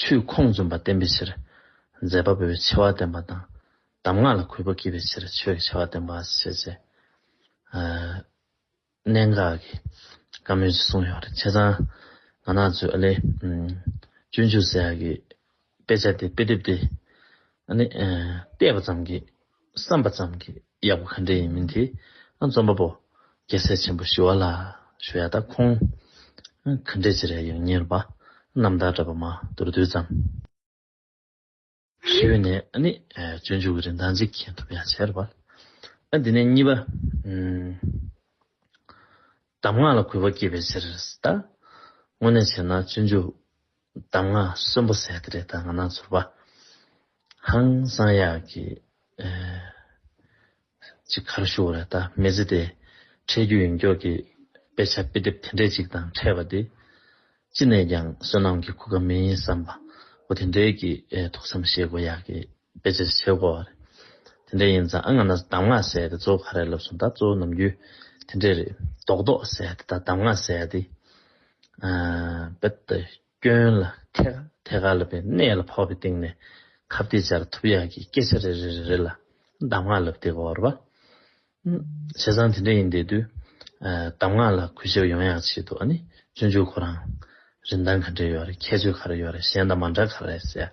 ཆུའི་ཁོངས་བཙུན་པ་བསྟན་པའི་ཕྱིར། མཛད་པ་པོའི་ཆེ་བ་བསྟན་པ་དང། གདམས་ངག་ལ་གུས་པ་སྐྱེས་པའི་ཕྱིར་ཆོས་ཀྱི་ཆེ་བ་བསྟན་པ་ཞེས་བྱའི། གནད་འགག་གི་བཀའ་མོལ་ཅིག་གསུངས་ཡོད་པ་རེད། བྱས་ཙང་ང་ནག་ཆུ་ཨ་ལས། སྤྱོད་འཇུག་ཟེར་ཡག་གི་དཔེ་ཆ་དེ་དཔེ་དེབ་དེ། ཨ་ནི། བལྟས་པ་ཙམ་གྱིས་བསམ་པ་ཙམ་གྱིས་ཡག་པོ་ག་འདྲས་ཡིན་མིན་དེ་ཨ་འཛོམས་པ་པོ་རྒྱལ་སྲས་ཆེན་པོ་ཞི་བ་ལ་ཞུ་ཡག་ད་ཁོང་ག་འདྲས་ཅི་རེད་ཡང་གཉེར་པ་རྣམ་དག་འདྲ་པ་མ་དུར་རྡུལ་ཙམ། ཞི་བའི་ནས་ཨ་ནི་སྤྱོད་འཇུག་གི་རིན་ཐང་གཅིག་མཁྱེན་ཐུབ་ཡག་བྱས་རེད་བ། ཨ་དེ་ནས་གཉིས་པ། གདམས་ངག་ལ་གུས་པ་བསྐྱེད་པའི་ཕྱིར་ད། དངོས་གནས་བྱས་ན་སྤྱོད་འཇུག་གདམས་ངག་གསོན་པོ་ཟེར་ཏེ་རེ་ད་ང་ནང་ཚོར་བ། ཧང་སང་ཡག་གི། ཅིག་གར་ཞུ་བ་རེ་ད་མི་ཟེར་ཏེ། འཕྲད་རྒྱུ་ཡིན་མགྱོགས་ཀྱི། དཔེ་ཆ་དཔེ་དེབ་དེ་འདྲས་ཅིག་དང་འཕྲད་པ་དེ། ཅི་ནས་ཀྱང་བསོད་ནམས་ཀྱི་གོ་སྐབས་མིན་བསམ་པ། འོ་དེ་འདྲས་ཀྱི་ཐུགས་བསམ་བཞེས་དགོས་ཡག་གི། དཔེ་ཆ་ཞིག་བྱེད་དགོས། དེ་འདྲ་ཡིན་ཙང་ཨ་ང་ན་གདམས་ངག་ཟེར་ཏེ་གཙོ་བོ་ག་རེ་ལབ་སོང་ད་གཙོ་བོ་ནམ་རྒྱུན་དེ་འདྲས་རེད་རྡོག་རྡོག་ཟེར་ཏེ་ད་གདམས་ངག་ཟེར་ཏེ། རྦད་དེ་སྐྱོན་ལ་ཐད་ཐད་ཀར་ལབ་པའི་གནད་ལ་ཕོག་པའི་སྟེང་ནས་ཁ་བརྡའི་ཆར་ཐུབ་ཡག་གི་སྐད་ཆ་རེ་རེ་རེ་རེ་ལ་གདམས་ངག་ལབ་སྟེ་གོ་རེད་པ། བྱས་ཙང་དེ་འདྲ་ཡིན་དེ་དུས་གདམས་ངག་ལ་གུས་ཞབས་ཡོང་ཡག་བྱེད་དུ་ཨ་ནི་སྤྱོད་འཇུག་ཁོ་རང་རིན་ཐང་ག་འདྲས་ཡོད་རེད་ཁྱད་ཆོས་ག་རེ་ཡོད་རེད་གཞན་དང་མ་འདྲ་ག་རེ་རེད་ཟེར།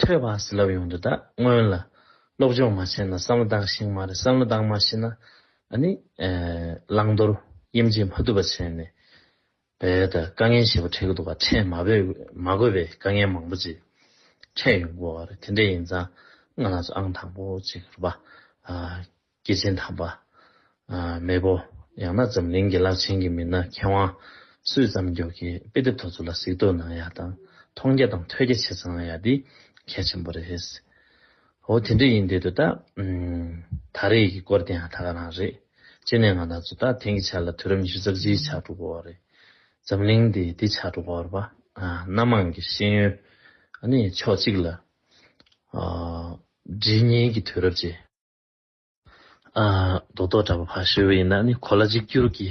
ཐོས་པ་ཟིལ་རླབས་ཡོང་དུས་ད་སྔོན་ལ། སློབ་སྦྱོང་མ་བྱས་ན་བསམ་བློ་འདང་ཞིང་མ་རེད་བསམ་བློ་འདང་མ་ཤེས་ན། ཨ་ནི། བླང་དོར་དབྱེ་འབྱེད་མ་ཐུབ་པ་བྱས་ནས། བས་ད་དཀའ་ངལ་ཞེས་པ་འཕྲད་ཀྱི་འདུག་ག་འཕྲད་མ་བས་མ་དགོས་པའི་དཀའ་ངལ་མང་པོ་ཅིག་འཕྲད་ཡོང་གི་འོ་རེད་དེ་འདྲ་ཡིན་ཙང་ང་ལ་སུ་ཨང་དང་པོ་ཅིག་རུ་པ། སྐྱེས་ཆེན་དམ་པ། མེས་པོ། ཡང་ན་འཛམ་གླིང་གི་རླབས་ཆེན་གྱི་མི་སྣ་མཁས་དབང། སུས་བརྩམས་རྒྱུགས་ཀྱི་དཔེ་དེབ་ཐོག་ཚུར་ལ་གཟིགས་རྟོག་གནང་ཡག་དང་མཐོང་རྒྱ་དང་ཐོས་རྒྱ་ཆེ་ཚང་ཡག་འདི་གལ་ཆེན་པོ་རེད། ཨོ་དེ་འདྲ་ཡིན་དེ་དུ་ད། ད་རེས་ཀྱི་སྐོར་དེའང་ད་ག་རང་རེད། སྤྱིར་ནས་ང་ད་ཚོ་ད་དེང་གི་ཆར་ལ་དུས་རབས་ཉི་ཤུ་རྩ་བཞིའི་ཆགས་འགྲོ་གོ་བ་རེད། འཛམ་གླིང་འདི་འདི་ཆགས་འགྲོ་གོ་བར་པ། སྣ་མང་གི་ཤེས་ཡོན། ནི་ཕྱོགས་གཅིག་ལ། སྒྲིལ་ཉིན་གྱི་དུས་རབས་ཀྱི། རྡོ་ཐོག་འདྲ་པོ་ཕར་བཤིག་པ་ཡིན་ན་ནི་གོ་ལ་གཅིག་གྱུར་གྱི་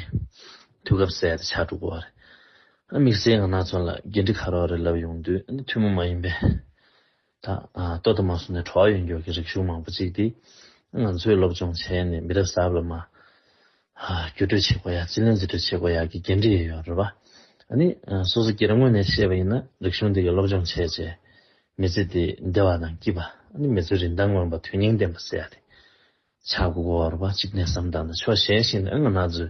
དུས་སྐབས་གསལ་ཏེ་ཆགས་འགྲོ་གི་བ་རེད། དམིགས་བསལ་ང་ནག་ཚོང་ལ་འགན་འཁྲི་ཁ་རོག་རེད་ལབ་ཡོང་དུས་ནི་ཐུན་མོང་མ་ཡིན་པའི། ད་ལྟ་དུ་མ་སོང་ནས་གྲོགས་ཡོད་མགྱོགས་ཀྱི་རིག་གཞུང་མང་པོ་གཅིག་དེ་ང་ཚོས་སློབ་སྦྱོང་བྱས་ནས་མི་རབས་གསར་པ་ལ་མ་བརྒྱུད་སྤྲོད་བྱེད་སྒོ་ཡག་སྤྱི་ལེན་རྩིས་སྤྲོད་བྱེད་སྒོ་ཡག་གི་འགན་འཁྲི་ཡོད་ཡོད་རེད་པ། ཨ་ནི་སོ་སོ་སྒེར་ངོས་ནས་ཤེས་པ་ཡིན་ན་རིག་གཞུང་འདི་གི་སློབ་སྦྱོང་བྱས་རྗེས། མི་ཚེ་འདི་བདེ་བ་དང་སྐྱིད་པ་ཨ་ནི་མི་ཚོའི་རིན་ཐང་མངོན་པ་དོན་སྙིང་ལྡན་པ་སེལ་ཡག་དེ་ཆགས་སྒོ་དགོས་བ་རེད་པ་གཅིག་གནས་སམ་བདག་ན་ཆོག་གཞན་ཞིག་ནི་ཨ་ང་ན་ཚོའི་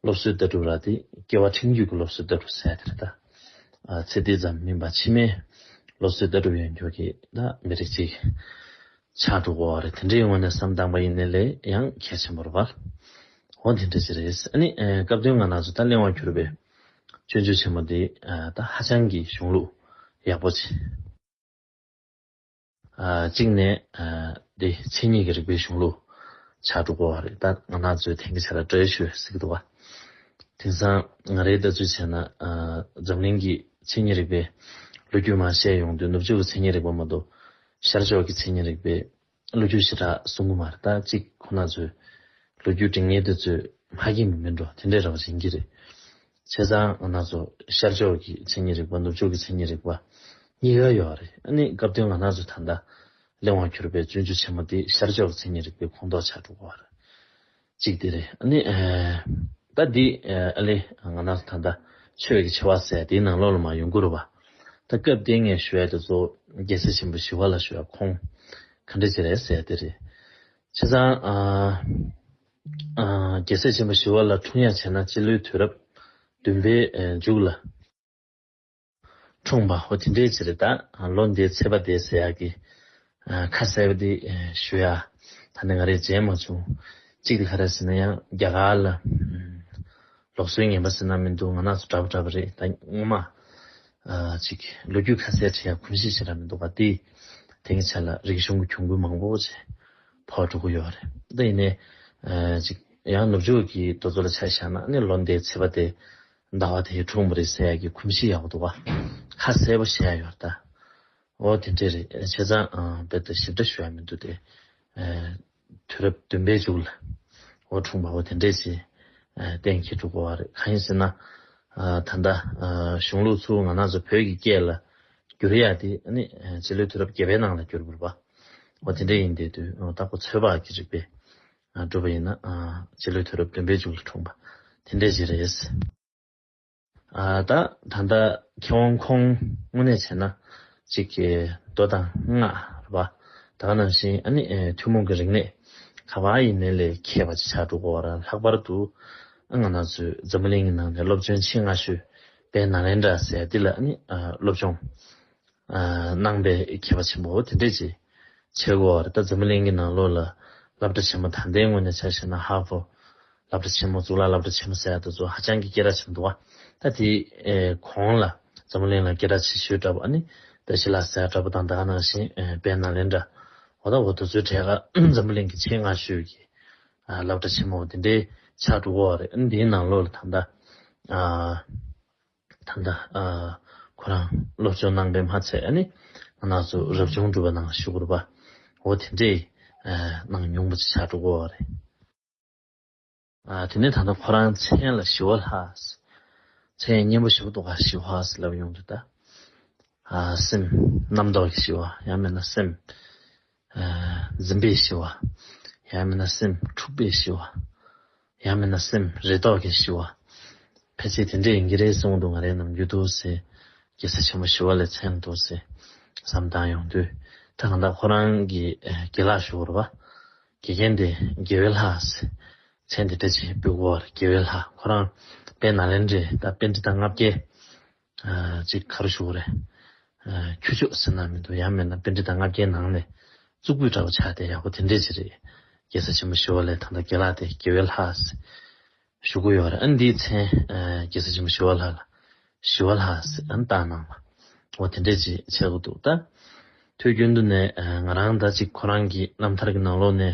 སློབ་གསོའི་ལྟ་གྲུབ་ར་དེ་སྐྱེ་བ་ཕྲེང་རྒྱུད་ཀྱི་སློབ་གསོའི་ལྟ་གྲུབ་ཟེར་དེ་རེད་ད། ཚེ་འདི་ཙམ་མིན་པ་ཕྱི་མའི་སློབ་གསོའི་ལྟ་གྲུབ་ཡོད་མགྱོགས་ཀྱིས་ད་མི་རིགས་གཅིག་ཆགས་འགྲོ་གོ་རེད་དེ་འདྲའི་ངོ་ནས་བསམ་སྟངས་པ་ཡིན་ནི་ལས་ཡང་གལ་ཆེན་པོར་བར། འོ་དེ་འདྲ་ཅི་རེད། ཨ་ནི་སྐབས་དོན་ང་ན་ཚོ་ད་གླེང་བར་གྱུར་པའི་སྤྱོད་འཇུག་ཆེན་མོ་འདི་ད་ཧ་ཅང་གི་གཞུང་ལུགས་ཡག་པོ་ཆེ། གཅིག་ནས་འདི་མཚན་ཉིད་ཀྱི་རིག་པའི་གཞུང་ལུགས་ཆགས་འགྲོ་གོ་བ་རེད་ད་ང་ན་ཚོས་དེང་གི་ཆ་ལ་བཀྲ་ཤོས་ཟིག་འདུག་བ། དེང་སང་ང་རེའི་ལྟ་ཚུལ་བྱས་ན་འཛམ་གླིང་གི་མཚན་ཉིད་རིག་པའི་ལོ་རྒྱུས་མ་བཤད་ཡོང་དུས་ནུབ་ཕྱོགས་ཀྱི་མཚན་ཉིད་རིག་པ་མ་གཏོགས་ཤར་ཕྱོགས་ཀྱི་མཚན་ཉིད་རིག་པའི། ལོ་རྒྱུས་བྱེ་བྲག་ཟུང་གུ་མར་ལྟ་གཅིག་ཁོ་ན་མཛོད། ལོ་རྒྱུས་དྲི་ངད་དེ་ཚོས་མ་གིས་མི་མི་འགྲོ་དེ་འདྲའི་ར་བ་འབྱིན་གྱི་རེད། བྱས་ཙང་ང་ནག་ཚོ་ཤར་ཕྱོགས་ཀྱི་མཚན་ཉིད་རིག་པ་ནུབ་ཕྱོགས་ཀྱི་མཚན་ཉིད་རིག་པ་གཉིས་ཀ་ཡོད་རེད་ཨ་ནི་སྐབས་དོན་ང་ནག་ཚོ་ད་ལྟ་གླེང་བར་གྱུར་པའི་བཙུན་ཆུ་ཆེན་མོ་དེ་ཤར་ཕྱོགས་ཀྱི་མཚན་ཉིད་རིག་པའི་ཁོངས་གཏོགས་ཆགས་འགྲོ་གི་བ་རེད། ཅིག་དེ་རེད། ཨ་ནི། ད་འདི། ཨ་ལེ། ང་ནར་ད་ལྟ། ཆོས་ཀྱི་ཆེ་བ་ཟེར་དེའི་ནང་ལོགས་ལ་མ་ཡོང་གུར་བ། ད་སྐབས་དེ་ངས་ཞུ་བའི་དེ་ཚོ། རྒྱལ་སྲས་ཆེན་པོ་ཞི་བ་ལ་ཞུ་བའི་ཁོང། ག་འདྲས་བྱེད་རེད་ཟེར་དེ་རེད། བྱས་ཙང། རྒྱལ་སྲས་ཆེན་པོ་ཞི་བ་ལ་འཁྲུངས་ཡ་བྱས་ན་སྤྱི་ལོའི་དུས་རབས། བདུན་པའི། མཇུག་ལ། འཁྲུངས་པ་ཧོ་དེ་འདྲའི་ཚེ་རེད་ད། ལོ་འདིའི་ཚེས་པ་དེ་ཟེར་ཡག་གི། ཁ་གསལ་བོ་དེ་ཞུ་ཡ། ད་ནི་ང་རེ་མཇལ་མ་བྱུང། གཅིག་ལྷ་ར་ཟེར་ན་ཡང་རྒྱ་གར་ལ། ལོག་སྲོལ་ངན་པ་ཟེར་ན་མི་འདུག་ང་ནགས་སུ་འདྲ་པོ་འདྲ་པོ་རེད་ད་སྔོན་མ། ཅིག་ལོ་རྒྱུས་ཁ་གསལ་བྱེད་ཡ་གོམས་གཤིས་ཆེ་དྲག་མི་འདུག་བ་དེ། དེང་གི་ཆ་ལ་རིག་གཞུང་གི་གྱོང་གུད་མང་པོ་བྱས། ཕོག་འགྲོ་གི་ཡོད་བ་རེད་ད་ཡིན་ནའི། ཅིག་ཡང་ནུབ་ཕྱོགས་ཀྱི་རྡོ་བཟོ་ལ་ཆ་བཞག་ན་ནི་ལོ་འདའི་ཚེས་པ་དེ། ཟླ་བ་དེའི་དྲུང་མི་རིག་ས་ཡ་གི་ཁུམ་བཞི་ཡག་པོ་འདུག་བ་ཁ་གསལ་པོ་བཤད་ཡོད་ད། འོ་དེ་འདྲས་རེད་བྱས་ཙང་རྦད་དེ་ཞིབ་ཕྲ་ཞུ་ཡ་མི་འདུག་དེ། དུས་རབས་བདུན་པའི་མཇུག་ལ་འོ་དྲུང་པ་བོ་དེ་འདྲས་ཀྱི་གཏན་འཁེལ་འགྲོ་དགོས་བ་རེད་གང་ཡིན་ཟེར་ན། ད་ལྟ་གཞུང་ལུགས་ཚུལ་ང་ནག་ཚོ་བོད་ཀྱི་སྐད་ལ་བསྒྱུར་ཡ་དེ་ནི་རྗེས་ལོའི་དུས་རབས་བརྒྱད་པའི་ནང་ལ་བསྒྱུར་དགོས་རེད་བ་འོ་དེ་འདྲས་ཡིན་དེ་དུས་རྟག་པོ་ཚོད་དཔག་གི་རིགས་པས་སྒྲུབ་པ་ཡིན། སྤྱི་ལོའི་དུས་རབས་བདུན་པའི་མཇུག་ཏུ་འཁྲུངས་པ་དེ་འདྲས་ཤིག་རེད། ད་ད་ལྟ་མཁས་དབང་ཁོང་དངོས་གནས་བྱས་ན་ཅིག་གི་མདོ་དང་སྔགས་རེད་པ་ད་ག་ནང་བཞིན་ཨ་ནི་ཐུན་མོང་གི་རིག་གནས་ག་བ་ཡིན་མིན་ལས་མཁས་པ་ཅིག་ཆགས་འགྲོ་དགོས་བ་རང་ལྷག་པར་དུ་ཨ་ང་ན་ཚོས་འཛམ་བུ་གླིང་གི་ནང་ནས་སློབ་སྦྱོང་ཆེས་སྔ་ཤོས་པའི་ནཱ་ལེནྡྲ་ཟེར་འདི་ལ་ཨ་ནི་སློབ་སྦྱོང་གནང་བའི་མཁས་པ་ཆེན་པོ་འོ་དེ་འདྲས་ཀྱི་ཆེད་སྒོ་བར་ད་འཛམ་བུ་གླིང་གི་ནང་ལོགས་ལ་བསླབ་གྲྭ་ཆེན་མོ་ད་ལྟའི་ངོས་ནས་བྱ་ཞེས་ན་ཧཱ་ཧྥོ། བསླབ་གྲྭ་ཆེན་མོ་གཙུག་ལག་བསླབ་གྲྭ་ཆེན་མོ་ཟེར་ཡག་ཏུ་ཚོ་ཧ་ཅང་གི་སྐད་གྲགས་ཆེན་པོ་འདུག་ཨ། ད་དེའི་གོང་ལ་འཛམ་བུ་གླིང་ལ་སྐད་གྲགས་ཆེ་ཤོས་འདྲ་པོ་ཨ་ནི་ད་ཞི་ལ་ཟེར་འདྲ་པོ་དང་དག་ནང་བཞིན་བན་ན་ལེན་འདྲ་བོ་དང་འོ་དོ་ཚོའི་གྲས་ཀ་འཛམ་བུ་གླིང་གི་ཆེས་སྔ་ཤོས་ཀྱི་བསླབ་གྲྭ་ཆེན་མོ་འོ་དེ་འདྲའི་ཕྱག་དྲུག་གོ་བ་རེད་ཨ་ནི་དེའི་ནང་ལོགས་ལ་ད་ལྟ། ད་ལྟ་ཁོ་རང་སློབ་སྦྱོང་གནང་པའི་མ་ཚད་ནི་ང་ནག་ཚོ་རབ་བྱུང་སྒྲུབ་པ་ནང་ཞུགས་དགོས་པའོ་དེ་འདྲའི་གནང་མྱོང་པོ་ཆེ་ཆགས་འགྲོ་དགོས་བ་རེད། དེ་ནས་ད་ལྟ་ཁོ་རང་མཚན་ལ་ཞི་བ་ལྷ། མཚན་ཡང་སྙན་པོ་ཞིག་འདུག་ག་ཞི་བ་ལབ་ཡོང་དུས་ད། སེམས་རྣམ་རྟོག་གི་ཞི་བ་ཡང་མེད་ན་སེམས། འཛིན་པས་ཞི་བ། ཡང་མིན་ན་སེམས་འཁྲུགས་པས་ཞི་བ། ཡང་མིན་ན་སེམས་རེ་དོགས་གིས་ཞི་བ། ཕལ་ཆེར་དེ་འདྲའི་འགའ་རེའི་གསུང་དུ་ང་རའི་ནང་རྒྱུད་དུ་སེ། རྒྱལ་ས་ཆེན་པོ་ཞི་བ་ལས་མཚན་དུ་སེ། བསམ་བཏང་ཡོང་དུས་ད་གང་དག་ཁོ་རང་གི་དགེ་ལགས་ཞུ་བར་བ། དགེ་རྒན་དེ་དགེ་བའི་ལྷ་སེ། མཚན་དེ་སྤྲད་ཕྱིར་བུ་གོ་བར་དགེ་བའི་ལྷ་ཁོ་རང་དཔལ་ནཱ་ལེནྡྲའི་ད་དཔེ་འདི་དང་ལྔ་བརྒྱའི། ཅིག་ཁར་བཞུགས་རེ། ཁྱུ་མཆོག་ཟེར་ན་མི་འདུག་ཡང་མེད་ན་དཔེ་འབྲི་དང་ལྔ་བརྒྱའི་ནང་ནས་གཙུག་ཕུད་འདྲ་བོ་ཆགས་དེ་ཡག་པོ་དེ་འདྲས་ཅིག་རེད། རྒྱལ་ས་ཆེན་པོ་ཞི་བ་ལའི་ཐང་ད་དགེ་ལགས་དེ་དགེ་བའི་ལྷ། བཞུགས་སྒོ་ཡོད་རེད་ཨ་འདིའི་མཚན་རྒྱལ་ས་ཆེན་པོ་ཞི་བ་ལྷ་ལ། ཞི་བ་ལྷ། བཏགས་གནང་བ། འོ་དེ་འདྲས་ཅིག་བྱས་དགོས་འདུག་ད། ཐོས་རྒྱུན་དུ་ནས་ང་རང་ད་ཅིག་ཁོ་རང་གི་རྣམ་ཐར་གྱི་ནང་ལོགས་ནས།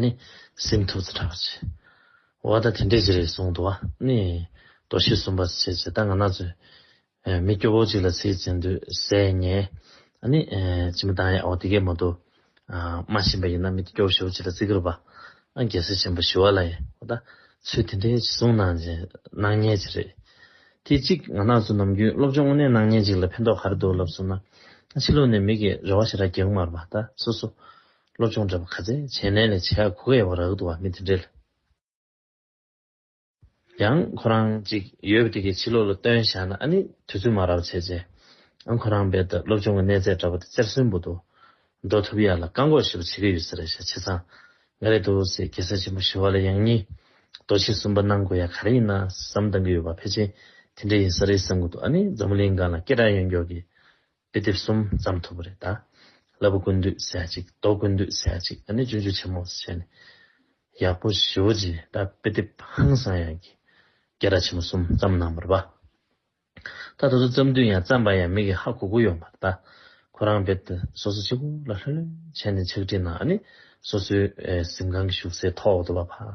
ནི། སེམས་ཐུགས་རྩེ་དྲག་པར་བྱེད། བ་དང་དེ་འདྲས་ཅི་རེད་གསུང་དུ་བ། ནི། དོ་ཤེས་གསུམ་པར་བྱེད་ཅེས་ད་ང་ན་ཚོད། མི་སྐྱོ་བོ་གཅིག་ལ་ཚེ་ཡི་བཙན་དུ་ཟད། ཉེ། ནི། ཅི་མི་དང་ཡ་འོ་དེ་གས་མོ་དུ། སྨྲ་བཞིན་པ་ཡིན་ན་མི་སྐྱོ་བོ་ཞི་བ་གཅིག་ལ་བརྩི་གིར་བ། རྒྱལ་སྲས་ཆེན་པོ་ཞི་བ་ལ་ཡ་འོ་ད། ཚོད་དེ་འདྲས་ཅི་གསུང་ན། སྣང་བརྙན་ཅི་རེད། དེ་གཅིག་ང་ན་ཚོད་ནམ་རྒྱུན་སློབ་སྦྱོང་དངོས་གནས་སྣང་བརྙན་གཅིག་ལ་ཕན་ཐོག་ག་རེ་འདུག་ལབ་གསུང་ན། ཕྱི་ལུགས་ནས་མི་གིས་རེ་བ་ཞེ་དྲག་རྒྱག་གི་མ་རེད་བ། ད་སོ་སོ། སློབ་སྦྱོང་འདྲ་པོ་ག་ཚད་བྱས་ནས་ལས་བྱེད་གོ་གི་ཡོད་པ་རག་འདུག་བ་མི་དེ་འདྲས་ལ་ཡང་ཁོ་རང་ཅིག་ཡོད་པ་དེ་གི་ཕྱི་ལོག་ལ་སྟོན་བཞག་ན་ཨ་ནི་དུས་ཚོད་མ་རག་བྱས་རྗེས་ཨ་ཁོ་རང་རྦད་དེ་སློབ་སྦྱོང་གི་གནས་ཚད་འདྲ་པོ་དེ་རྩེར་སོན་འབུ་དུ་འགྲོ་ཐུབ་ཡག་ལ་བཀག་འགོག་ཞིབ་པ་བྱེད་གི་ཡོད་ཟེར་ཞག་ཆེ་ཚང་ང་རེད་འདུག་ཟེར་གེ་སར་ཆེན་པོ་ཞི་བ་ལ་ཡང་གཉིས་རྡོ་ཆེ་གསུམ་པ་གནང་དགོས་ཡག་ག་རེ་ཡིན་ན་བསམ་གཏང་གི་ཡོད་པ་ཕལ་ཆེན་དེ་འདྲས་ཡིན་ས་རེད་བསམ་གི་འདུག་ཨ་ནི་འཛམ་བུ་གླིང་སྒང་ལ་སྐད་གྲགས་ཡོད་མགྱོགས་ཀྱི་དཔེ་དེབ་གསུམ་བརྩམས་ཐུབ་པ་རེད་ད། བསླབ་བུ་ཀུན་འདུས་ཟེར་ཡ་གཅིག་རྟོག་ཀུན་འདུས་ཟེར་ཡ་གཅིག་ཨ་ནི་ཅུང་ཅུང་ཆེན་མོ་བྱས་ནས། ཡག་པོ་ཞོ་ཅེས་ད་དཔེ་དེབ་ཧང་སང་ཡག་གི་སྐད་ར་ཆེན་མོ་གསུམ་བརྩམས་གནང་བར་བ། ད་ད་སུ་བརྩམས་དུས་ཡང་བརྩམས་པ་ཡང་མི་གི་ཧ་གོ་གོ་ཡོང་བར་ད། ཁོ་རང་དཔེ་དེ་སོ་སོ་ཕྱི་གོ་ལ་ལྷོད་ལྷོད་བྱས་ནས་ཕྱག་བྲིས་གནང་ཨ་ནི་སོ་སོའི་གཟིམ་ཁང་གི་བཞུགས་སའི་ཐོག་ཏུ་བ་ཕ།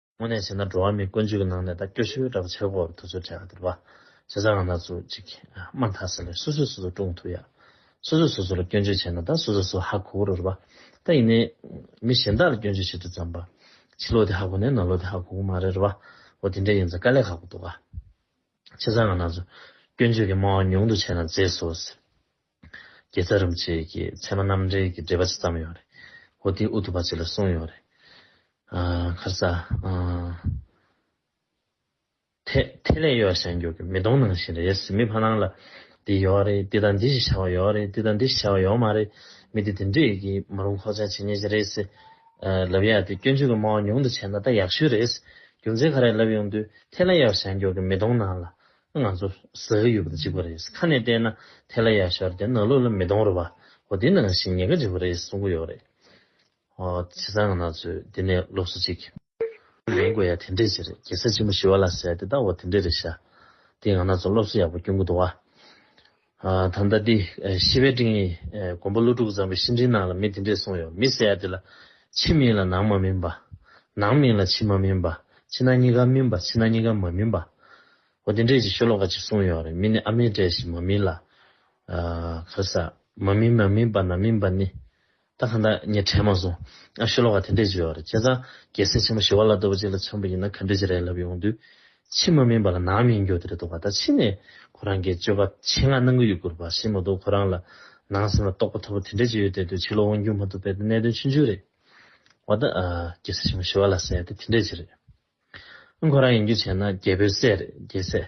དངོས་གནས་བྱས་ན་འགྲོ་བ་མིའི་ཀུན་སྤྱོད་ཀྱི་ནང་ནས་ད་སྐྱོ་ཤོས་ར་བ་ཆེ་བ་བོར་ཐུག་ཚུལ་བྲལ་བ་དེར་བ་ཇི་ཙམ་ང་ནག་ཚུགས་ཅིག་དམའ་མཐའ་ཟེར་ལེ་སོ་སོས་སོ་སོ་བཀྲུང་ཐུག་ཡ། སོ་སོས་སོ་སོ་ལ་སྐྱོན་བརྗོད་བྱས་ན་ད་སོ་སོས་སོ་ཧ་གོ་གོ་རོ་ར་བ་ད་ཡིན་ནའི། མི་གཞན་དག་ལ་སྐྱོན་བརྗོད་བྱེད་དུས་ཙམ་པ། ཕྱི་ལོག་དེ་ཧ་གོ་ནའི་ནང་ལོག་དེ་ཧ་གོ་གོ་མ་རེད་ར་བ། འོ་དེ་འདྲས་ཡིན་ཚ་དཀའ་ལས་ཁག་པོ་འདུག་ག། ཆེ་ས་ང་ནག་ཚུགས་སྐྱོན་བརྗོད་ཀྱི་སྨྲ་བ་ཉུང་དུ་བྱས་ན་མཛེས་སོ་ཟེར། དགེ་རྩ་རིན་པོ་ཆེ་ཀྱིས་ཚད་མ་རྣམ་འགྲེལ་གྱི་འགྲེལ་པ་ཅིག་བརྩམས་ཡོད་རེད། ཧོ་ཏིང་ཨུ་ཐུ་པ་ཅིག་ལ་གསུངས་ཡོད་རེད། མཁར་ས། ཐེ། ཐེ་ལེ་གཡོ་བ་གཞན་འགྱུར་གྱི་མི་གདོང་ནང་བཞིན་རེད་ཟེར་མི་ཕ་ནང་ལ། འདི་ཡོད་རེད་འདི་དང་འདི་ཞེས་བྱ་བ་ཡོད་རེད་འདི་དང་འདི་ཞེས་བྱ་བ་ཡོད་མ་རེད། མི་འདི་དེ་འདྲས་ཀྱིས་མ་རུང་ཁོག་ཅག་བྱེད་ཉེས་ཅིག་རེད་ཟེར། ལབ་ཡག་དེ་སྐྱོན་བརྗོད་ཀྱི་སྨྲ་བ་ཉུང་དུ་བྱས་ན་ད་ཡག་ཤོས་རེད། རྒྱུ་མཚན་ག་རེ་ལབ་ཡོང་དུས་ཐེ་ལེ་གཡོ་བ་གཞན་འགྱུར་གྱི་མི་གདོང་ནང་ལ། ང་ཚོ་ཟ་གི་ཡོད་པ་དང་གཅིག་པ་རེད། ཁ་ནས་བལྟས་ན་དེ་ལ་ཡར་ཤར་དེ་ནག་ལུག་ལ་མི་གཏོང་རོགས་པ། འོ་དེ་ནང་བཞིན་ཉེས་ཁ་འཇིགས་པ་རེད་གསུང་གི་ཡོད་རེད། ཨོ་བྱས་ཙང་ང་ནག་ཚོས་འདི་ནས་སློབ་གསོ་གཅིག། ལེན་དགོས་ཡ་དེ་འདྲས་ཅིག་རེད་གེ་སར་ཅིག་མོ་ཞི་བ་ལ་ཟེར་དེ་ད་འོ་དེ་འདྲས་རེད་ཤ། དེས་ང་ནག་ཚོ་སློབ་གསོ་ཡག་པོ་སྐྱོང་གི་འདུག་བ། ད་ལྟ་འདི་ཤི་བའི་སྤྲིང་ཡིན། མགོན་པོ་ཀླུ་སྒྲུབ་བཟང་པོའི་ཤི་འཕྲིན་ནང་ལ་མི་དེ་འདྲས་གསུངས་ཡོད་མི་ཟེར་ཡ་དེ་ལ། ཕྱི་མིན་ལ་ནང་མ་སྨིན་པ། ནང་མིན་ལ་ཕྱི་མ་སྨིན་པ། ཕྱི་ནང་གཉིས་ཀ་སྨིན་པ་ཕྱི་ནང་གཉིས་ཀ་མ་སྨིན་པ། འོ་དེ་འདྲས་ཀྱི་ཤོ་ལོ་ཀ་གཅིག་གསུངས་ཡོད་རེད་མི་ནི་ཨ་མའི་གྲས་ཤིག་མ་སྨིན་ལ། ཨ། ཁ་ས། མ་སྨིན་མ་སྨིན་པ་ནང་སྨིན་པ་ནི། ད་གང་ལྟར་ངས་དྲན་མ་སོང། ཨ་ཤེ་ལོག་ཁ་དེ་འདྲས་ཅིག་ཡོད་རེད་བྱས་ཙང་རྒྱལ་སྲས་ཆེན་པོ་ཞི་བ་ལ་ལྟ་བུ་ཅིག་ལ་འཆམ་པོ་ཡིན་ན་ག་འདྲས་ཅིག་རེད་ལབ་ཡོང་དུས། ཕྱི་མ་སྨིན་པ་ལ་ནང་སྨིན་འགྱོ་དེ་རེད་འདུག་ག་ད་ཕྱི་ནས་ཁོ་རང་གིས་སྤྱོད་པ་ཆེད་མངགས་གནང་གི་ཡོད་དགོས་པ་ཤེས་མ་འདུག་ཁོ་རང་ལ་ནང་སེམས་ལ་རྟོགས་པ་མཐོ་པོ་དེ་འདྲས་ཅིག་ཡོད་བསྡད་དུས་ཕྱི་ལོག་དབང་སྒྱུར་མ་ཐུབ་པའི་གནད་དོན་ཆུང་ཆུང་རེད། འོ་ད། རྒྱལ་སྲས་ཆེན་པོ་ཞི་བ་ལ་ཟེར་ཡ་དེ་དེ་འདྲས་ཅིག་རེད། ཁོ་རང་ཡིན་རྒྱུ་བྱས་ན་རྒྱལ་པོའི་སྲས་རེད་རྒྱལ་སྲས།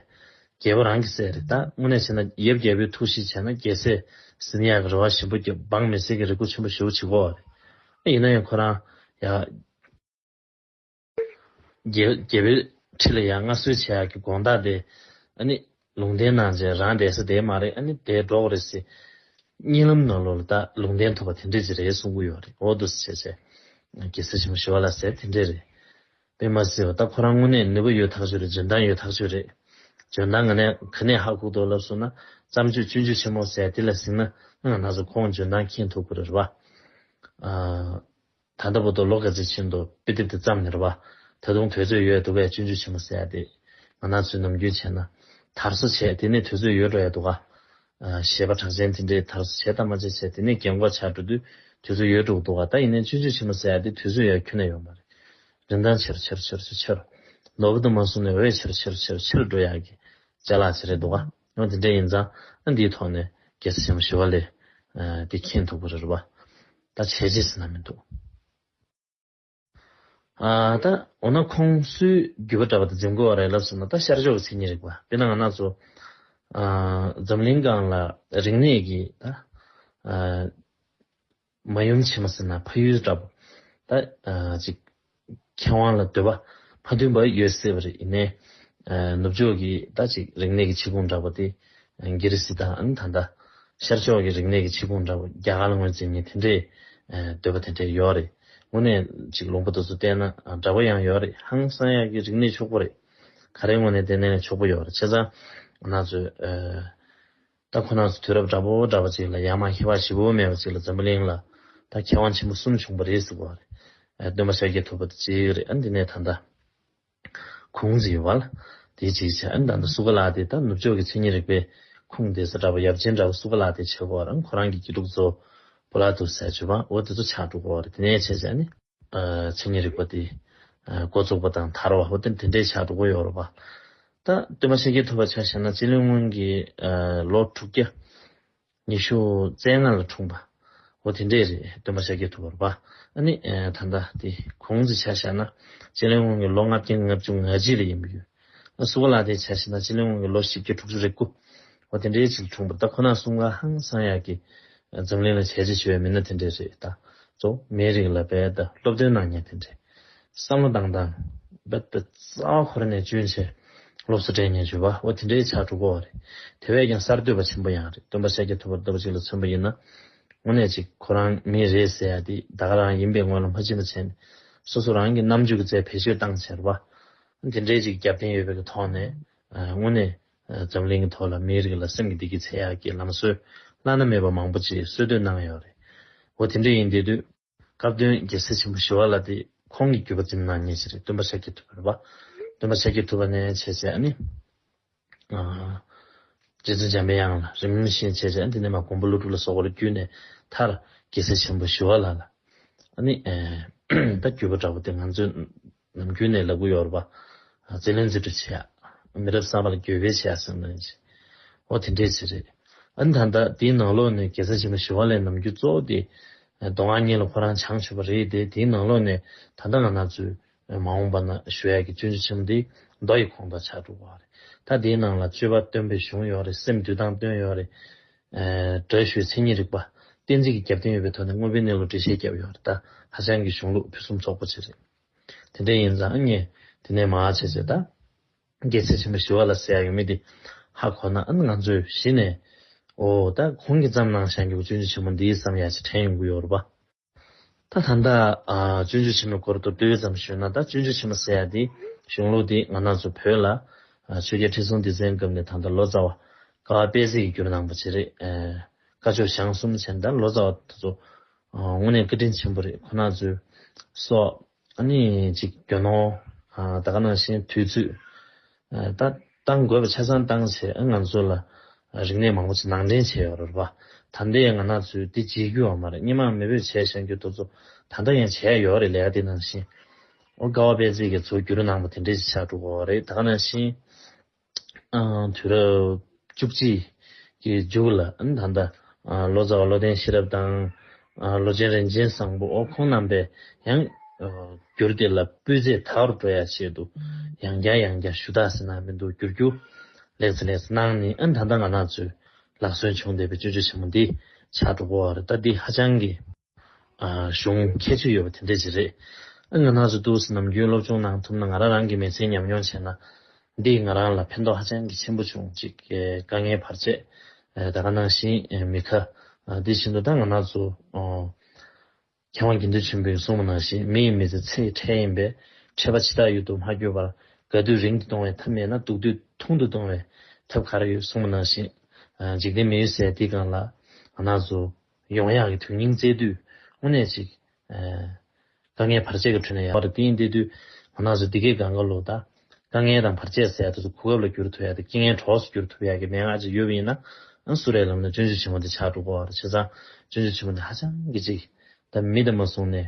རྒྱལ་པོ་རང་གི་སྲས་རེད་ད་དངོས་གནས་བྱས་ན་ཡབ་རྒྱལ་པོའི་ཐུགས་གཤིས་བྱས་ན་རྒྱལ་སྲས་ཟི་ནི་ཡག་གི་རེ་བ་ཞིམ་པོ་སྐྱོབ་འབངས་མི་སེར་གྱི་རེ་སྒུག་ཆེན་པོ་ཞུ་བྱེད་གོ་རེད་ཨ་ཡིན་ན་ཡང་ཁོ་རང་ཡག་རྒྱལ་པོའི་ཁྲི་ལ་ཡང་མངའ་གསོལ་བྱས་ཡག་གི་དགོངས་དག་དེ་ཨ་ནི། ལུང་བསྟན་གནང་རྗེས་རང་བསྡད་ས་བསྡད་མ་རེད་ཨ་ནི་བསྡད་འགྲོ་གི་རེད་ཟེར། གཉིད་ལམ་ནང་ལོག་ལ་ད་ལུང་བསྟན་ཐོབ་པ་དེ་འདྲས་ཅིག་རེད་གསུང་གི་ཡོད་རེད་འོ་དུ་ཟེར་བྱས་བྱས། གེ་སེར་ཆེན་མོ་ཞི་བ་ལ་ཟེར་དེ་འདྲས་རེད། དཔེ་མ་སྲིད་བ་ད་ཁོ་རང་དངོས་གནས་ནུས་པ་ཡོད་ཐག་ཆོད་རེད་འཇོན་ཐང་ཡོད་ཐག་ཆོད་རེད། འཇོན་ཐང་ང་ནས་ག་ནས་ཧ་ཁུག་ཏོ་ལབ་སོང་ན་བརྩམས་ཆོས་སྤྱོད་འཇུག་ཆེན་མོ་ཟེར་དེ་ལ་གཟིགས་ན་ང་ན་ཟུག་ཁོང་འཇོན་ཐང་མཁྱེན་ཐུབ་གི་རེད་རེད་བ། ད་ལྟ་བུ་དོ་ལོ་ག་ཚོད་ཕྱིན་འདུག་དཔེ་དེབ་དེ་བརྩམས་ནས་རེད་བ། ད་དུང་དུས་ཚོད་ཡོད་འདུག་པས་སྤྱོད་འཇུག་བྱེད་མ་ཟེར་ཡ་དེ། ང་ནག་ཚོས་ནམ་རྒྱུན་བྱས་ན། དར་བཟོ་བྱས་དེ་ནས་དུས་ཚོད་ཡོད་འགྲོ་ཡ་འདུག་ག། ཞེས་པ་གྲགས་ཅན་དེ་འདྲས་དར་བཟོ་བྱས་དར་མ་བྱས་བྱས་དེ་ནས་རྒན་འགོག་བྱ་འགྲོ་དུས་དུས་ཚོད་ཡོད་འགྲོ་གི་འདུག་ག་ད་ཡིན་ནའི་སྤྱོད་འཇུག་བྱེད་མ་ཟེར་ཡ་དེ་དུས་ཚོད་ཡ་ཁྱོན་ན་ཡོད་མ་རེད། རིན་ཐང་ཆེར་ཆེར་ཆེར་ཆེར་ཆེར། ལོ་གི་དུ་མ་སོང་ནས་འོད་ཆེར་ཆེར་ཆེར་ཆེར་འགྲོ་ཡ་གི། ལྗད་ལགས་བྱེད་རེད་འདུག་ག། ཡང་དེ་འདྲ་ཡིན་ཙང་ཨ་འདིའི་ཐོག་ནས་རྒྱལ་ས་ཆེན་མོ་ཞི་བ་ལས་དེ་མཁྱེན་ཐུབ་ཀྱི་རེད་པ། ད་བྱས་རྗེས་ཟེར་ན་མི་འདུག་ད། འོ་ན་ཁོང་སུའི་རྒྱུད་པ་འདྲ་བ་དེ་འཛིན་དགོས་བ་རེད་ལབ་ཟེར་ན་ད་ཤར་ཕྱོགས་ཀྱི་མཚན་ཉིད་རིག་པ་དཔེར་ན་ང་ནག་ཚོ་འཛམ་གླིང་སྒང་ལ་རིག་གནས་ཀྱི་ད། མ་ཡུམ་ཆེན་མོ་ཟེར་ན་ཕ་ཡུལ་འདྲ། ད་ཅིག་མཁས་དབང་ལ་འདོད་པ་ཕ་མཐུན་པ་ཡོད་སྲིད་པ་རེད་ཡིན་ནའི། ནུབ་ཕྱོགས་ཀྱི་ད་ཅིག་རིག་གནས་ཀྱི་ཆིག་ཁུངས་འདྲ་པོ་དེ་རྒྱལ་རི་སི་ཐང་ད་ལྟ་ཤར་ཕྱོགས་ཀྱི་རིག་གནས་ཀྱི་ཆིག་ཁུངས་འདྲ་པོ་རྒྱ་གར་ངོས་འཛིན་ནི་དེ་འདྲའི་འདོད་པ་དེ་འདྲའི་ཡོད་རེད་དངོས་གནས་ཅིག་ལུང་པ་དོ་ཚུ་བལྟས་ན་འདྲ་པོ་ཡང་ཡོད་རེད་ཧང་སང་ཡག་གི་རིག་གནས་ཕྱུག་པོ་རེད་ག་རེ་དངོས་གནས་བལྟས་ནའི་ཕྱུག་པོ་ཡོད་རེད་བྱས་ཙང་ང་ཚོས། ད་ཁོ་ན་ཚོ་དུས་རབས་འདྲ་པོ་འདྲ་པོ་ཅིག་ལ་ཡ་མ་ཧེ་བ་ཞེ་བོ་མེད་པ་ཅིག་ལ་འཛམ་བུ་གླིང་ལ་ད་མཁས་དབང་ཆེན་པོ་གསུམ་བྱུང་པ་རེད་ཟེར་བ་རེད། སྟོན་པ་ཤཱཀྱའི་ཐུབ་པ་དེ་གཅིག་རེད་འདི་ནས་ད་ལྟ་ཁུངས་འཛིན་ཡོད་པ་ལ་དེ་གཅིག་བྱས་ད་ལྟ་སུ་ཀ་ལ་ཏེ་ད་ནུབ་ཕྱོགས་ཀྱི་མཚན་ཉིད་རིག་པའི་ཁུངས་བསྡེ་ས་འདྲ་པོ་ཡབ་ཆེན་འདྲ་པོ་སུ་ཀ་ལ་ཏེ་བྱས་གོ་རང་ཁོ་རང་གི་དགེ་ཕྲུག་ཚོ་པོ་ལ་དུ་ཟས་སྤྱོད་པ་འོ་དེ་ཚོ་ཆགས་འགྲོ་གོ་རེད་དེ་ནས་བྱས་བྱས་ནས། མཚན་ཉིད་རིག་པ་དེ། འགོ་བཙུགས་པ་དང་དར་བ་ཧོ་དེ་འདྲའི་ཆ་དྲུག་པོ་ཡོད་རོ། ད་སྟོན་པ་ཤེས་རྒྱལ་ཐུབ་པ་ཆ་བཞག་ན་སྤྱི་ལོའི་སྔོན་གྱི་ལོ་དྲུག་བརྒྱ། ཉི་ཤུ་རྩེ་ལྔ་ལ་འཁྲུངས་པ་ཧོ་དེ་འདྲས་རེད་སྟོན་པ་ཤེས་རྒྱལ་ཐུབ་པར་བནི། ད་ལྟ་དེ་གོང་གི་ཆ་བཞག་ན་སྤྱི་ལོའི་སྔོན་གྱི་ལོ་ལྔ་བརྒྱ་ལྔ་བཅུ་ང་གཅིག་ལ་ཡིན་པ་ཡོད། སུ་བ་ལ་དེ་བྱ་ཞིག་ན་སྤྱི་ལོའི་སྔོན་གྱི་ལོ་བཞི་བརྒྱ་དྲུག་ཅུ་རེ་དགུ་བ་དེ་འདྲའི་ཆེད་འཁྲུངས་པ་ད་ཁོ་ན་གསུམ་ག་ཧང་སང་ཡག་གི་འཛམ་གླིང་ལ་བྱས་རྗེས་ཆེ་བའི་མི་སྣ་དེ་འདྲའི་རེད་ད་གཙོ་མའི་རིགས་ལ་བལ་ད་སློབ་སྟོན་གནང་མྱངས་དེ་འདྲའི་བསམ་བློ་བཏང་དང་བལ་ད་རྩ་བ་འཁོར་ནས་བཅུན་ཆེ་སློབ་གསོ་སྤྲད་མྱངས་ཆུ་བ་བ་དེ་འདྲའི་ཆགས་འགྲོ་གོ་བ་རེད་དེ་བས་ཀྱང་གསར་གཏོད་པ་ཆེན་པོ་ཡང་རེད་སྟོན་པ་ཤཱཀྱ་ཐུབ་པར་ལྟ་བུ་ཅིག་ལ་མཚོན་པ་ཡིན་ན་དངོས་གནས་ཅིག་ཁོ་རང་མི་རེད་ཟེར་ཡག་འདི་ད་ག་རང་ཡིན་པའི་སྔོན་ལ་མ་ཕྱི་མ་བྱས་ནས་སོ་སོ་རང་གི་རྣམ་དཔྱོད་ཀྱི་རྩལ་བེད་སྤྱོད་བཏང་ཟེར་བ་འདི་འདྲའི་ཅིག་རྒྱབ་རྟེན་ཡོད་པའི་གི་ཐོག་ནས་དངོས་གནས་འཛམ་གླིང་གི་ཐོག་ལ་མིའི་རིགས་ལ་སེམས་ཀྱི་བདེ་སྐྱིད་ཚེ་ཡག་གི་ལམ་སྲོལ་བླ་ན་མེད་པ་མང་པོ་ཅིག་གསོལ་སྟོད་གནང་ཡོད་རེད། འོ་དེ་འདྲ་ཡིན་དེ་དུས་སྐབས་བསྟུན་རྒྱལ་སྲས་ཆེན་པོ་ཞི་བ་ལ་དེ་ཁོང་གི་རྒྱུད་པ་འཛིམ་ནག་ཉེ་ཆེ་རེད་སྟོན་པ་ཤ་ཁྱི་ཐུབ་པ་རེད་པ། སྟོན་པ་ཤ་ཁྱི་ཐུབ་པ་ནས་བྱས་ཚེ་ཨ་ནི། རྗེ་བཙུན་འཇམ་པའི་དབྱངས་ལ་རིམ་བཞིན་བྱས་བྱས་དེ་ནས་མ་ཀོང་པོ་ཀླུ་སྒྲུབ་ལ་སོགས་པར་བརྒྱུད་ནས་མཐར་རྒྱལ་སྲས་ཆེན་པོ་ཞི་བ་ལ་ལ་ནི་ད་བརྒྱུད་པ་འདྲ་བོ་དེ་ང་ཚོས་ནམ་རྒྱུན་ནས་ལ་ཀུ་ཡོར་བ་རྩེ་ལེན་རྩེ་སྒྲུབ་བྱེད་ཡ། མི་རབས་གསར་པ་ལ་འགྱོད་པས་བྱེད་ཡ་ཟེར་ནི་རེད། འོ་དེ་འདྲས་བྱེད་རེད། ཨ་ནི་ད་ལྟ་དེའི་ནང་ལོགས་ནས་རྒྱལ་སྲས་ཆེན་པོ་ཞི་བ་ལའི་ནམ་རྒྱུན་གཙོ་བོ་དེ་མདོ་སྔགས་གཉིས་ལ་ཁོ་རང་བྱང་ཆུབ་པ་རེད་དེ་དེའི་ནང་ལོགས་ནས་ད་ལྟ་ང་ན་ཚོས་མ་འོངས་པ་ན་ཞུ་ཡག་གི་སྤྱོད་འཇུག་ཆེན་མོ་འདི་མདོ་ཡི་གོང་དང་ཆ་དྲུག་པའོ། ད་དེའི་ནང་ལ་སྤྱོད་པ་སྟོན་པའི་གཞུང་ཡོད་རེད་སེམས་འདུལ་སྟངས་སྟོན་ཡོད་རེད། བགྲོས་ཞུའི་མཚན་ཉིད་རིག་པ། གཏན་ཚིགས་ཀྱི་རྒྱབ་རྟེན་ཡོད་པའི་ཐོག་ནས་དངོས་པོའི་གནས་ལུགས་འགྲེལ་བཤད་བརྒྱབ་ཡོད་རེད་ད་ཧ་ཅང་གི་གཞུང་ལུགས་ཕུན་སུམ་ཚོགས་པོ་ཆེ་རེད། དེ་འདྲ་ཡིན་ཙང་ངས་དེ་ནས་མ་བྱས་ཚེ་ད་རྒྱལ་སྲས་ཆེན་པོ་ཞི་བ་ལ་ཟེར་ཡག་ཡོད་མེད་དེ་ཧ་གོ་ན་ང་ཚོས་གཞི་ནས་འོ་ད་གོང་གི་ཙམ་ནང་བཞག་འགྱུར་སྤྱོད་འཇུག་ཆེན་མོ་འདིའི་བསམ་ཡག་ཅིག་དྲན་ཡོང་གི་ཡོད་རེད་པཱ། ད་ད་ལྟ་བཙུན་ཆུ་ཆེན་མོའི་སྐོར་དུ་ཏུའུ་ཙམ་ཞུས་ན་ད་བཙུན་ཆུ་ཆེན་མོ་ཟེར་ཡ་དེའི་གཞུང་ལུགས་དེ་ང་ནག་ཆུ་བོད་ལ་ཆོས་རྒྱལ་ཁྲི་སྲོང་ལྡེ་བཙན་སྐབས་ནས་ད་ལྟ་ལོ་ཙཱ་བ་ཀ་བ་དཔལ་སྲིད་ཀྱི་རྒྱུར་གནང་པ་བཅས་རེད། བཀའ་ཆོས་ཞང་གསུམ་ཆེན་དང་ལོ་ཙཱ་བ་དེ་ཚོ་དངོས་གནས་བཀའ་དྲིན་ཆེན་པོ་རེད་ཁོ་ནག་ཆུ་སོགས། གནས་གཅིག་གྱོན་ནོ། ད་ག་ནང་བཞིན་དུས་ཚོད། ད་གཏང་དགོས་པ་ཆ་ཚང་གཏང་ཟེར་ཨེ་ང་ཚོ་ལ་རིག་གནས་མང་པོ་ཆེ་ནང་འདྲེན་བྱས་ཡོད་རེད་པ། ད་ལྟའི་ང་ནག་ཚོས་དེ་བརྗེད་རྒྱུ་འང་མ་རེད་སྙེ་མང་མི་བོས་བྱས་བཞག་རྒྱུ་དོ་ཚོ་ད་ལྟ་ཡང་བྱས་ཡོད་རེད་ལས་ཀ་དེ་ནང་བཞིན་ཨོ་དཀའ་བ་པས་ཚིག་གི་ཚོ་བརྒྱུད་རོ་ནང་པ་དེ་འདྲས་ཆགས་འགྲོ་གོ་རེད་ད་ག་ནང་བཞིན། དུས་རབས་བཅུ་གཅིག་གི་མཇུག་ལ་ད་ལྟ་ལོ་ཙཱ་བ་བློ་ལྡན་ཤེས་རབ་དང། ལོ་ཆེན་རིན་ཆེན་བཟང་པོ་ཁོང་རྣམ་པས་ཡང་བསྒྱུར་ཏེ་ལ་སྤུས་ཚད་མཐའ་བར་འགྲོ་ཡ་ཆེད་དུ་ཡང་བསྐྱར་ཡང་བསྐྱར་ཞུ་དག་ཟེར་ན་མི་འདུག་བསྒྱུར་རྒྱུ་ལེགས་ཚེ་ལེགས་གནང་ནི་ད་ལྟ་ང་ནག་ཚོས་ལག་སོན་བྱུང་བསྡད་པའི་སྤྱོད་ཆ་ཆེན་མོ་འདི་ཕྱག་གྲུ་བོར་བ་རེད་ད་འདི་ཧ་ཅང་གི། བྱུང། ཁྱད་ཆོས་ཡོད་པ་དེ་འདྲས་ཅི་རེད། ཨ་ང་ནག་ཆུ་རྡུལ་གྱི་ནམ་རྒྱུན་སློབ་ཆུང་ནང་ཐུབ་ན་ང་རང་རང་གི་མི་ཚེའི་ཉམས་མྱོང་བྱས་ན། འདིས་ང་རང་ལ་ཕན་ཐོགས་ཧ་ཅང་གི་ཆེན་པོ་བྱུང་གཅིག་དཀའ་ངལ་བར་ཆད་ད་ག་ནང་བཞིན་མི་ཁ། དེ་བཞིན་དུ་ད་ང་ནག་ཆུ། མཁས་དབང་དགེ་འདུན་ཆེན་པོས་གསུངས་པ་ནང་བཞིན་མི་ཡི་མི་ཚེ་ཚེའི་ཁྲལ་ཡིན་པས་ཁྲལ་པ་ཇི་ལྟར་ཡོད་དུ་མ་བསྐྱོད་པར་དགའ་དུས་རིང་དུ་གཏོང་བའི་ཐབས་མེད་ན་སྡུག་དུས་ཐུང་དུ་གཏོང་བའི་ཐབས་ག་རེ་ཡོད་གསུངས་པ་ནང་བཞིན། འཇིག་རྟེན་མི་ཡུལ་ཟད་དེའི་སྒང་ལ་ང་ནག་ཆུ། ཡོང་ཡག་གི་དོན་སྙིང་བཙལ་དུས་དངོས་གནས་ཅིག། དཀའ་ངལ་བར་ཆད་ཀྱི་ཁྲོད་ནས་ཡར་བར་བསྟིང་བསྟེ་དུས་ངོ་ནག་ཚོས་འདི་སྐད་ག་འགའ་ལོས་དང། དཀའ་ངལ་དང་བར་ཆད་སེལ་ཡག་དུས་སུ་གོ་སྐབས་ལ་བསྒྱུར་ཐུབ་ཡག་དེ་སྐྱེ་ངན་གྲོགས་སུ་བསྒྱུར་ཐུབ་ཡག་གི་མན་ངག་ཅིག་ཡོད་པ་ཡིན་ན། སུ་རེད་ལབ་ན་སྤྱོད་འཇུག་ཆེན་མོ་དེ་ཆགས་འགྲོ་གོ་བར་བྱས་ཙང་སྤྱོད་འཇུག་ཆེན་མོ་དེ་ཧ་ཅང་གི་ཅིག། ད་མི་དེ་མ་བཟུང་ནས་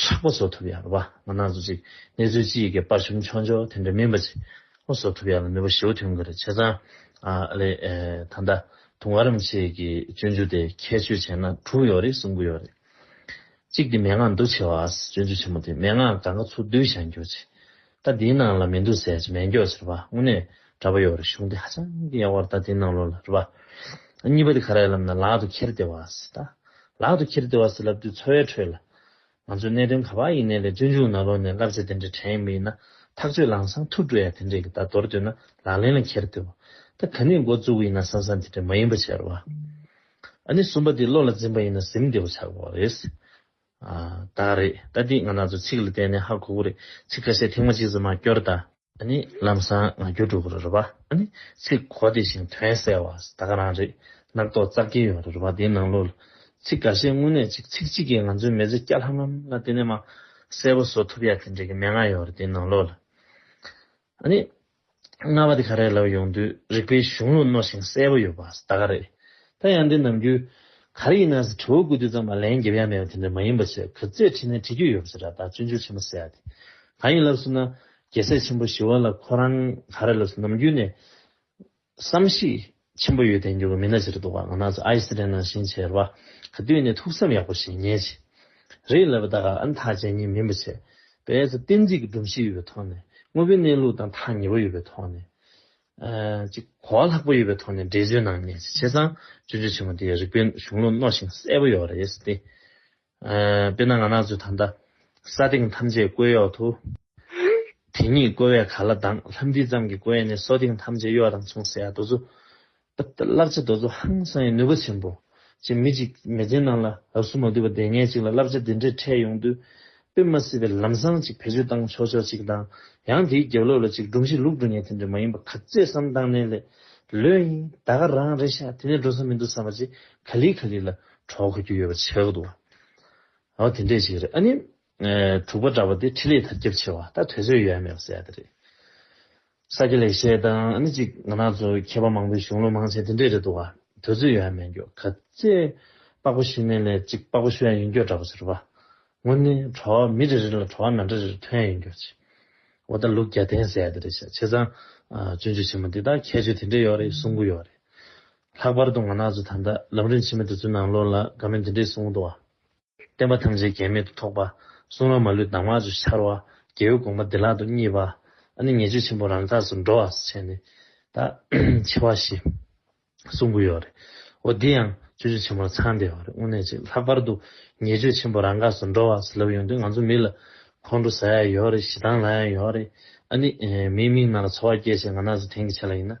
དྲག་པ་བཟོ་ཐུབ་ཡག་ལ་བ་ང་ནག་བཟོ་ཅིག་གནས་ཚུལ་ཅི་ཡི་གེ་དཔར་ཆོམ་ཆོག་འཇོག་དེ་འདྲ་མིན་པ་ཅིག་ཨོ་བཟོ་ཐུབ་ཡག་ལ་མི་བུ་ཞེའུ་ཐུང་གི་རེད་བྱས་ཙང་ཨ་ལེ་ད་ལྟ་དུང་ཨ་རམ་ཆེས་གི་སྤྱོད་འཇུག་དེ་ཁྱད་ཆོས་བྱས་ན་དྲུག་ཡོག་རེད་གསུམ་དགུ་ཡོག་རེད་གཅིག་དེ་མན་ངག་འདུ་ཆེ་བ་ཨ་སྤྱོད་འཇུག་ཆེན་མོ་དེ་མན་ངག་ག་ག་ཚུགས་དུས་བཞག་འགྱོ་ཅིག། ད་དེའི་ནང་ལ་མི་འདུག་ཟེར་གྱི་མེད་མགྱོགས་ཟེར་བ་དངོས་གནས་འདྲ་པོ་ཡོད་རེད་གཞུང་འདི་ཧ་ཅང་གི་ཡག་པོར་ད་དེའི་ནང་ལོག་ལ་རེད་པ། གཉིས་པ་དེ་ག་རེ་ལབ་ན་ལག་ཏུ་ཁྱེར་བདེ་བ་ཟེར་ད། ལག་ཏུ་ཁྱེར་བདེ་བ་ཟེར་ལབ་དུས་འཚོ་བའི་ཁྲོད་ལ། ང་ཚོས་གནད་དོན་ག་པར་ཡིན་ནའི་ལས་བཙོན་འཇུག་ན་ལོག་ནས་བསླབ་བྱ་དེ་འདྲའི་དྲན་ཡས་མི་ཡིན་ན་ཐག་གཅོད་ལང་སང་ཐུག་འགྲོ་ཡ་དེ་འདྲས་ཀྱི་ད་མདོར་བསྡུས་ན་ལག་ལེན་ལ་ཁྱེར་བདེ་བ། ད་ག་ནས་འགོ་བཙུགས་ཡིན་ན་སང་སང་དེ་འདྲས་མ་ཡིན་པ་བྱས་རོགས། ཨ་ནི་གསུམ་པ་དེ་བློ་ལ་འཛིན་པ་ཡིན་ན་གཟིམ་བདེ་བོ་ཆགས་པ་རེད། ད་རེད་ད་འདི་ང་ནག་ཚོ་ཚིག་ལ་བརྟེན་ནས་ཧ་གོ་གོ་རེད་ཚིག་ཁ་ཤས་ཐེངས་མ་གཅིག་ཙམ་མ་སྐྱོར་ད། ནི་ལམ་བཟང་ང་རྒྱུ་འགྲོ་གོ་རེད་རོ་བ། ནི་ཚིག་གོ་བདེ་ཞིང་དོན་གསལ་བ་ད་ག་རང་རེད་རྣག་ཐོག་ཙག་གེ་ཡོད་རེད་རོ་བ་འདིའི་ནང་ལོ། ཚིག་ག་ཤས་དངོས་གནས་ཅིག་ཚིག་གཅིག་གིས་ང་ཚོའི་མི་ཚེ་སྐྱ་ལྷམ་ལྷམ་ལ་བརྟེན་ནས་མ་གསལ་བོ་བཟོ་ཐུབ་ཡ་དེ་འདྲ་གི་མན་ངག་ཡོད་རེད་འདིའི་ནང་ལོ། ཨ་ནི། རྔ་བ་དེ་ག་རེད་ལབ་ཡོང་དུས་རིག་པའི་གཞུང་ལུགས་རྣོ་ཞིང་གསལ་པོ་ཡོད་པ་ད་ག་རེད། ད་ཡང་འདི་ནམ་རྒྱུན། ག་རེ་ཡིན་ནའི་ཟེར་དྲི་བོ་དགུ་དུས་ཙམ་ལ་ལན་འགེབས་ཡ་མེད་པ་དེ་འདྲ་མ་ཡིན་པ་ཆེད་གུས་རྩེས་དྲིས་ནས་དྲི་རྒྱུ་ཡོད་པ་ཟེར་ར་ད་བཙུན་ཆུ་ཆེན་པོ་ཟེར་ཡ་དེ་གང་ཡིན་ལབ་ཟུར་ན། རྒྱལ་སྲས་ཆེན་པོ་ཞི་བ་ལ་ཁོ་རང་ག་རེ་ལབ་ཟུར་ནམ་རྒྱུན་ནས། བསམ་གཞིགས་ཆེན་པོ་ཡོད་དེ་འགྱུར་བ་མི་སྣ་ཕྱིར་བཟློག་པ་ང་ནག་ཚོ་ཨའི་སི་རེ་ནང་བཞིན་བྱེད་ར་ག་དུས་ནས་ཐུགས་བསམ་ཡག་པོ་བཞེས་ཉེས་བྱས་རེད་ལབ་པ་ད་ག་ཨ་མཐའ་ཅན་གཉིས་མིན་པ་བྱས་པས་ཚོ་བསྟན་རྩིས་ཀྱི་སྒྲོམ་གཞི་ཡོད་པའི་ཐོག་ནས་དངོས་པོའི་གནས་ལུགས་དང་ཐག་ཉེ་བོ་ཡོད་པའི་ཐོག་ནས། གཅིག་གོ་བ་ལྷག་པོ་ཡོད་པའི་ཐོག་ནས་འགྲེལ་བརྗོད་གནང་ཉེས་བྱས་བྱས་ཙང་སྤྱོད་འཇུག་ཆེན་མོ་དེའི་རིགས་པའི་གཞུང་ལུགས་རྣོ་ཞིང་གསལ་པོ་ཡོད་རེད་ཟེར་ཏེ། དཔེར་ན་ང་ནགས་ཚོས་ད་ལྟ། ས་སྟེང་ཐམས་ཅད་བསྐོལ་གཡོག་ཏུ། དེ་ཉིད་བསྐོལ་བས་ག་ལ་འདང་ལྷམ་འདི་ཙམ་གྱིས་བསྐོལ་ཡས་ནས་སོ་སྟེང་ཐམས་ཅད་གཡོག་དང་མཚུངས་ཟེར་ཡ་རྡོ་ཚོ། བསླབ་བྱ་རྡོ་ཚོ་ཧང་སང་ཡི་ནུས་པ་ཆེན་པོ། ཅེས་མི་གཅིག་མེ་ལྕེ་ནང་ལ་ཨ་སུ་མ་དུལ་བ་འདས་ངེས་གཅིག་ལ་བསླབ་བྱ་འདི་འདྲས་འཕྲད་ཡོང་དུས། དཔེ་མ་སྲིད་པའི་ལམ་སང་ཅིག་བེད་སྤྱོད་བཏང་ཆོག་ཆོག་ཅིག་འདང། ཡང་དེའི་རྒྱབ་ལོགས་ལ་ཅིག་སྒྲུང་གཞི་ལུགས་སྒྲུང་ཉལ་ཐེངས་རེ་མ་ཡིན་པ་ག་ཚད་བསམ་བཏང་ནས་ལས། ལོས་ཡིན། ད་ག་རང་རེ་ཤ་དེ་ནས་འགྲོ་ས་མི་འདུག་བསམ་པ་ཅིག་ག་ལི་ག་ལི་ལ། གྲོགས་གོ་རྒྱུ་ཡོད་པ་ཆགས་འདུག་ཨ་དེ་འདྲས་ཅིག་རེད་ཨ་ནི། དྲུག་པ་འདྲ་པ་དེ་ཁྲི་ལས་དར་ཁྱབ་ཆེ་བ་ད་དོལ་ཚོད་ཡོད་ཡ་མེད་པ་གསལ་ད་རེད། ས་སྐྱ་ལེགས་བཤད་དང་ཨ་ནི་ཅིག་ང་ནག་ཚོ་མཁས་པ་མང་པོའི་གཞུང་ལུགས་མང་ཆེ་དེ་འདྲས་རེད་འདུག་ཨ་དོལ་ཚོད་ཡོད་ཡ་མེད་འགྱོ་ག་ཚེ་པགས་པ་ཤི་མེད་ལས་ཅིག་པགས་པ་ཤོད་ཡ་ཡིན་འགྱོ་འདྲ་པོ་ཟེར་བ་དངོས་ནི་གྲོགས་མི་རེ་རེ་ལ་གྲོགས་ན་འདྲ་རེ་རེ་ཐོན་ཡ་ཡིན་འགྱོ་ཅིག་འོ་ད་ལུགས་རྒྱ་ལྡན་གསལ་ད་རེད་ཤ་ཆེ་ཚང། བཙུན་ཆུ་ཆེན་མོ་འདི་དག་ཁྱད་ཆོས་དེ་འདྲས་ཡོད་རེད་གསུང་གི་ཡོད་རེད། ལྷག་པར་དུ་ང་ནག་ཆུ་ད་ལྟ་ལམ་རིམ་ཕྱི་མ་དེ་ཚོའི་ནང་བློ་ལ་དགའ་མིན་འདི་འདྲའི་གསུང་འདུག་བ། བསྟན་པ་ཐམས་ཅད་གེགས་མེད་དུ་ཐོགས་པ། གསུང་རང་མ་ལུས་གདམས་ངག་ཆུ་ཆར་བ། རྒྱལ་བོའི་དགོངས་པ་བདེ་བླག་ཏུ་བརྙེས་པ། ཨ་ནི་ཉེས་སྤྱོད་ཆེན་པོ་རང་འགགས་སུ་འགྲོ་བ་བྱས་ནས། ད་ཆེ་བ་ཞེས། གསུང་གི་ཡོད་རེད། འོ་འདི་ཡང་སྤྱོད་སྤྱོད་ཆེན་པོར་ཚང་བསྡད་བ་རེད་དངོས་གནས་ཅིག་ལྷག་པར་དུ་ཉེས་སྤྱོད་ཆེན་པོ་རང་འགགས་སུ་འགྲོ་བ་ཟེར་ལབ་ཡོང་དུས་ང་ཚོ་མི་ལ་ཁོང་ཁྲོ་ཟ་ཡ་ཡོད་རེད་ཞེ་སྡང་ལ་ཡང་ཡོད་རེད་ཨ་ནི། མིའི་མིག་ནང་ལ་ཚོར་བ་སྐྱེད་བྱེད་ང་ནག་ཆུ་དེང་གི་ཆ་ལ་ཡིན་ན།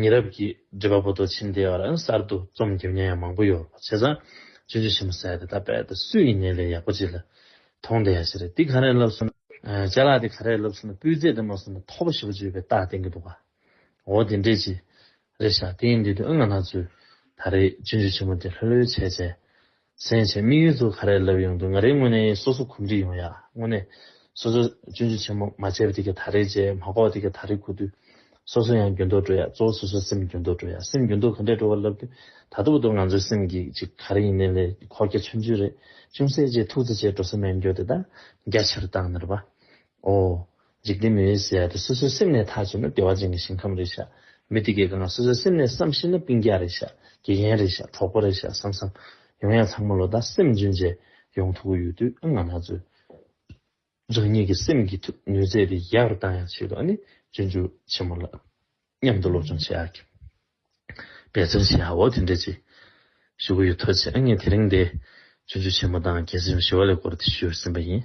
ཉེ་རབས་ཀྱི་འགྲེལ་པ་པོ་ཏོ་ཆིན་དེ་བར་གསར་དུ་རྩོམ་རྒྱབ་མྱོང་ཡ་མང་པོ་ཡོད་པ་བྱས་ཙང་ཅི་འདྲི་ཞིམ་པོ་བསལ་ཏེ་ད་དཔལ་དེ་སུ་ཡིན་ནའི་ལས་ཡག་པོ་ཅིག་ལ་ཐོང་དེ་ཡ་ཞེ་རེད་འདི་ག་རེ་ལབ་སོང་ན་ལྕེ་ལག་འདི་ག་རེ་ལབ་སོང་ན་སྤུས་ཚད་དེ་མ་སོང་ན་ཐོག་པ་ཞེ་པོ་ཅིག་ཡོད་པའི་རྟགས་བསྟན་གྱི་འདུག་ག་འོ་དེ་འདྲས་ཅི་རེད་ཤག་དེ་ཡིན་དུས་དུ་ཨ་ང་ནག་ཚོས་ད་རེས་ཅི་འདྲི་ཆེན་མོ་དེ་ལྷོད་ལྷོད་བྱས་བྱས་སེམས་ཅན་དམིགས་ཡུལ་དུ་ག་རེ་ལབ་ཡོང་དུས་ང་རེ་དངོས་གནས་སོ་སོ་གོམས་འདྲིས་ཡོང་ཡ། དངོས་གནས། སོ་སོས་སྤྱོད་འཇུག་ཆེན་མོ་མ་བྱས་པ་དེ་གས་ད་རེས་བྱས་མ་གོ་བ་དེ་གས་ད་རེས་གོ་དུས། སོ་སོ་ཡང་འགྱོད་འདོག་འགྲོ་ཡ་གཙོ་བོ་སོ་སོའི་སེམས་འགྱོད་འདོག་འགྲོ་ཡ་སེམས་འགྱོད་འདོག་ག་འདྲས་འགྲོ་བ་ལབ་དུས་ད་ཐུག་འདུག་ང་ཚོའི་སེམས་ཀྱི་ཅིག་ག་རེ་ཡིན་ནའི་ལས་ཀྱི་ཁོག་རྒྱ་ཆུང་ཆུང་རེད་ཅུང་ཟད་རྗེས་ཐུག་ཚེ་བྱས་འགྲོ་ས་མེད་འགྱོད་དེ་ད་རྒྱ་ཆེར་བཏང་ནི་རེད་པ། ཨོ། འཇིག་རྟེན་མི་འོད་ཟེར་དེ་སོ་སོའི་སེམས་ནས་ཐག་ཆོད་ན་བདེ་བ་ཅན་གྱི་ཞིང་ཁམས་རེད་ཤག་མི་དེ་གས་ཀྱང་སོ་སོའི་སེམས་ནས་བསམ་ཤེས་ན་སྤུན་རྒྱག་རེད་ཤག་དགེ་རྒན་རེད་ཤག་གྲོགས་པོ་རེད་ཤག་བསམ་བསམ། ཡོང་ཡང་ཚང་མ་ལོ་ཟླ་སེམས་འཇོན་བྱས་ཡོང་ཐུག་གི་ཡོད་དུས་ཨ་ང་ན་ཚོས་རང་ཉིད་ཀྱི་སེམས་ཀྱི་ཐུགས་ནུས་རྩལ་དེ་ཡག་རུ་བཏང་ཡང་ཆེད་དུ་ཨ་ནི་འབྱོན་འཇུག་ཆེན་མོ་ལ་མཉམ་དུ་སློབ་སྦྱོང་བྱས་ཨ་ཁྱབ། པའི་རྩེར་བྱས་ཧ་འོ་དེ་འདྲས་ཅིག། ཞུ་གི་ཡོད་ཐོས་ཚེ་ཨ་མྱེས་དེ་རིང་འདི། ཆུ་འཇུ་ཆེན་མོ་དང་རྒྱལ་སྲིད་ཞི་བ་ལས་སྐོར་དེ་ཞུས་ཟིན་པ་ཡིན།